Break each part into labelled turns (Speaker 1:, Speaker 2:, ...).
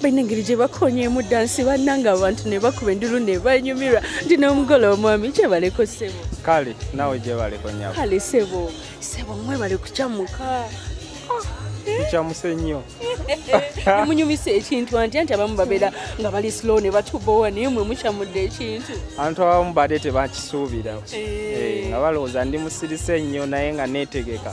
Speaker 1: balina engeri gye bakonyeemu dansi bannanga abantu ne bakuba endulu ne banyumirwa nti n'omugole omwami gyebaleko sebo kale nawe
Speaker 2: gyebaleko nyabo kale sebo
Speaker 1: sebo mwebale kucamuka
Speaker 2: kucamuse ah, nnyo nemunyumisa
Speaker 1: ekintu anti anti abamu babeera nga bali slow ne batubowa naye mwe mucamudde ekintu abantu abamu badde
Speaker 2: tebakisuubira eh. Eh, nga balowooza ndi musirise nnyo naye nga neetegeka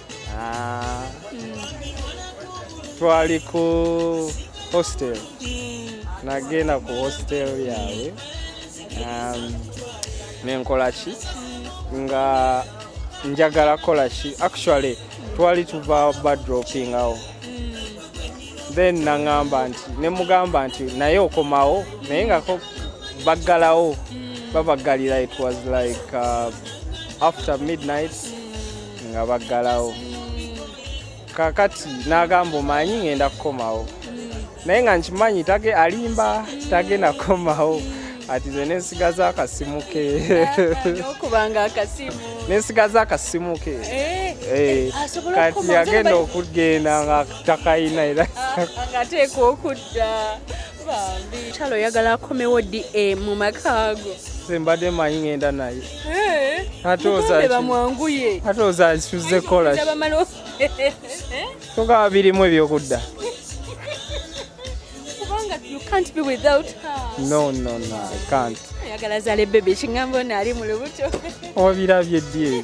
Speaker 1: Ah.
Speaker 2: twali ku hostel nagenda ku hostel yaabwe um, nenkolaki nga njagala kolaki actually twali tuva badropingawo then nangamba nti nemugamba nti naye okomawo naye nga baggalawo babagalira it was like uh, after midnight nga baggalawo kakati n'agamba omanyi ngenda kukomawo naye nga nkimanyi tage alimba tagenda kukomawo ati nze nensigaza akasimu ke okubanga
Speaker 1: akasimu nensigaza akasimu
Speaker 2: ke eh, eh, kati yagenda okugenda nga takayina era ah, ngateekwa
Speaker 1: okudda kyalo oyagala akomewo di e, mu makaago mbadde manyi
Speaker 2: ngenda naye eh, bamwanguye
Speaker 1: ate ozakisuze
Speaker 2: kola togaba birimu ebyokudda
Speaker 1: can't be without her. No, no, no, I
Speaker 2: can't. Ayagala zale bebe
Speaker 1: chingambo nali mulubuto. Obirabye
Speaker 2: die.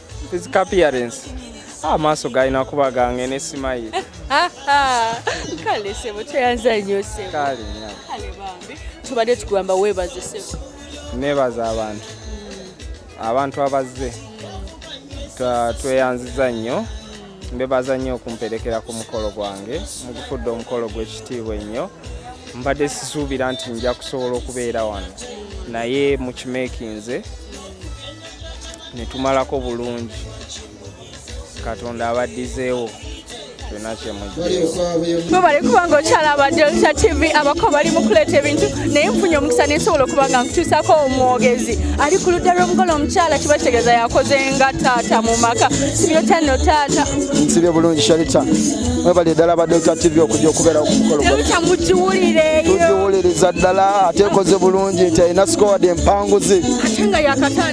Speaker 2: Physical appearance. Ah, maaso galina kuba gange ne simayiri. Kale
Speaker 1: sebo tweyanza nnyo sebo. Kale nnyo. Kale bambi. Tubadde tugamba weebaze sebo. Neebaza
Speaker 2: abantu. Hmm. Abantu abazze. Tweyanziza nnyo. Mbebaza nnyo okumperekera ku mukolo gwange. Mugufudde omukolo gw'ekitiibwa ennyo. Mbadde sisuubira nti nja kusobola okubeera wano. Naye mukimeekinze. ne tumalako bulungi katonda abaddizeewo webale kubanga
Speaker 1: okyalaba delta tv abako bali mukuleeta ebintu naye nfunye omukisa nensobola okuba nga nkutuusako omwogezi ali ku ludda lw'omugole omukyala kiba kitegeeza yakoze nga taata mu maka sibyotya no taata nsibye bulungi
Speaker 3: sharita mwebali eddala ba delta tv okujja okubeera kumukolodelta mugiwulireyo
Speaker 1: tugiwuliriza
Speaker 3: ddala ate ekoze bulungi nti alina sikowadi empanguzi ate nga yakatale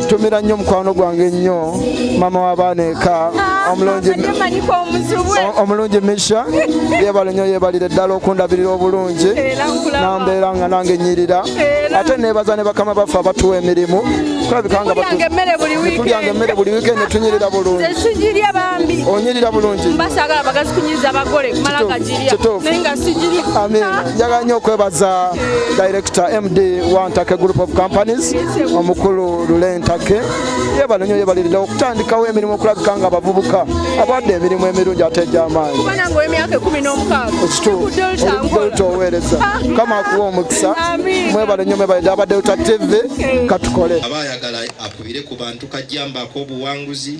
Speaker 1: tumira nnyo mukwano
Speaker 3: gwange nnyo maama w'abaana eka omulungi misha yebale nyo yebalire ddala okundabirira obulungi nambeera nga nange nyirira ate nebaza ne bakama baffe abatuwa emirimu tulabikanga tulyanga emmere buli wikendi netunyirira bulungi onyirira bulungi
Speaker 1: kituufu njagala
Speaker 3: nyo okwebaza director md wa ntake group of companies omukulu lule ntake yebale nyo yebalirira okutandikawo emirimu okulabika nga abavubuka abawadde emirimu emirungi ate egyamaanyi
Speaker 1: delta oweereza
Speaker 3: kama akuwa omukisa mwebale nyo mwebalire aba delta tv katukole aba ayagala
Speaker 4: akubire ku bantu kajjamba ak'obuwanguzi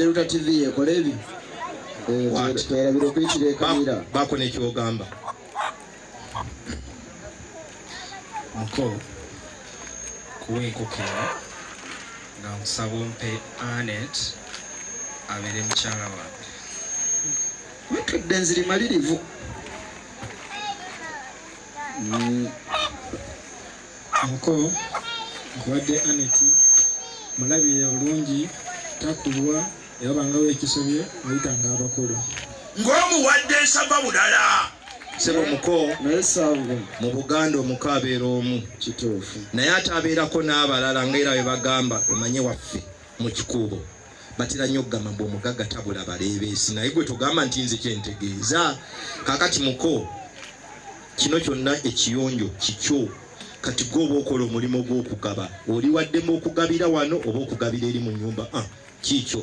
Speaker 3: Delta TV yekola ebyo twerabira okuyitira ekamira baako nekyogamba
Speaker 5: muko kuwa enkokera nga nkusaba ompe anet abeere mukyala wange
Speaker 3: Ntudde nziri malirivu. Mm.
Speaker 5: Muko nkuwadde Aneti mulabire bulungi takulwa yabangawo ekisobye oyitanga abakulu. Ng'omuwadde
Speaker 4: nsaba bulala. sebo muko
Speaker 3: mu buganda
Speaker 4: omuko abeera omu naye
Speaker 3: ate abeerako
Speaker 4: n'abalala ngaera bebagamba omanye waffe mu kikuubo batera nnyo okugamba mbu omugagga tabula baleebeesi naye gwe togamba nti nze kyentegeeza kakati muko kino kyonna ekiyonjo kikyo kati gwe oba okola omulimu gw'okugaba oli waddemu okugabira wano oba okugabira eri mu nyumba ah, kiikyo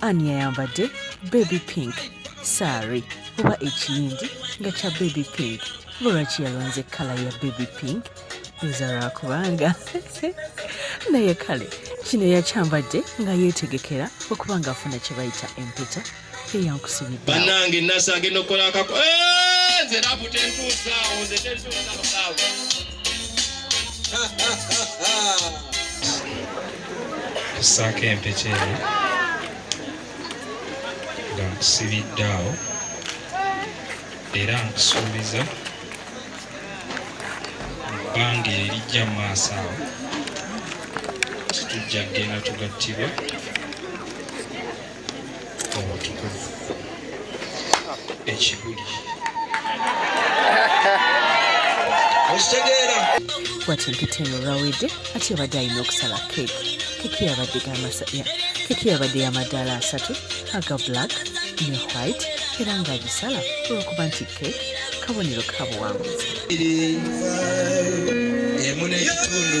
Speaker 6: ani yayambadde baby pink saari oba ekiyindi nga kya baby pink lwaki yalonze kala ya baby pink nza lwakubanga naye kale kino yakyambadde nga yeetegekera okuba nga afuna kye bayita empeta eyankusibidde banange nasa
Speaker 4: agenda okukola akako eh, nze rabu tentuusaawo nze tentuusaawo
Speaker 5: tusaako empeke eno nga nkusibidde awo era nkusuubiza ebbanga erijja mu maaso awo titujja kugenda tugattibwa ekibuli
Speaker 4: okitegeera wati mpita
Speaker 6: eyo olwawedde ati yabadde alina okusala keeki keeki yabadde gamasaya keeki yabadde yamadaala asatu aga black ne white era ng'agisala olwokuba nti keeki kabonero ka buwanguzi
Speaker 4: emu n'ekitundu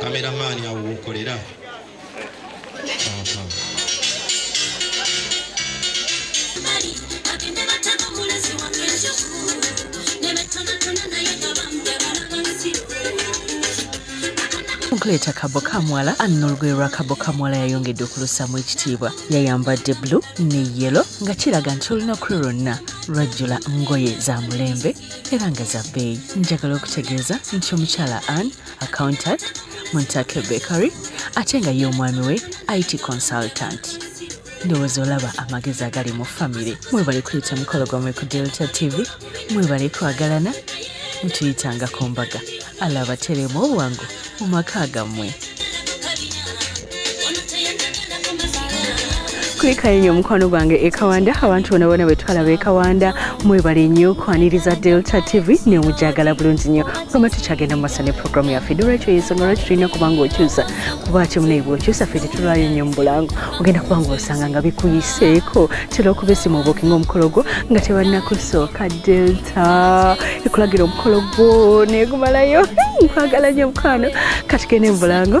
Speaker 4: kameramaani awo wokolera
Speaker 6: okuleeta kabo kamwala anna olugoye lwa kabo kamwala yayongedde okulusaamu ekitiibwa yayambadde blu ne yelo nga kiraga nti olunaku lwe lwonna lwajjula ngoye za mulembe era nga za bbeeyi njagala okutegeeza nti omukyala anne accountant muntake bakery ate nga ye omwami we it consultant ndowooza olaba amagezi agali mu famire mwebale kuyita mukolo gwamwe ku delta tv mwebale kwagalana mutuyitangako mbaga alaba teremu obwangu mu maka gammwe
Speaker 1: kulikayo nnyo omukwano gwange ekawanda abantu bona bona bwetwalaba ekawanda mwebale nnyo kwaniriza delta tv naye omujagala bulungi nnyo kugamba tukyagenda mu maso ne programu yaffe nolwekyo yensonga lwaki tulina okuba nga okyusa kuba kyo munaye bwokyusa ffe tetulwayo nnyo mu bulango ogenda kuba nga osanga nga bikuyiseeko tera okuba esimu obukinga omukolo gwo nga tebannakusooka delta ekulagira omukolo gwo negumalayo nkwagala nnyo omukwano katigende mu bulango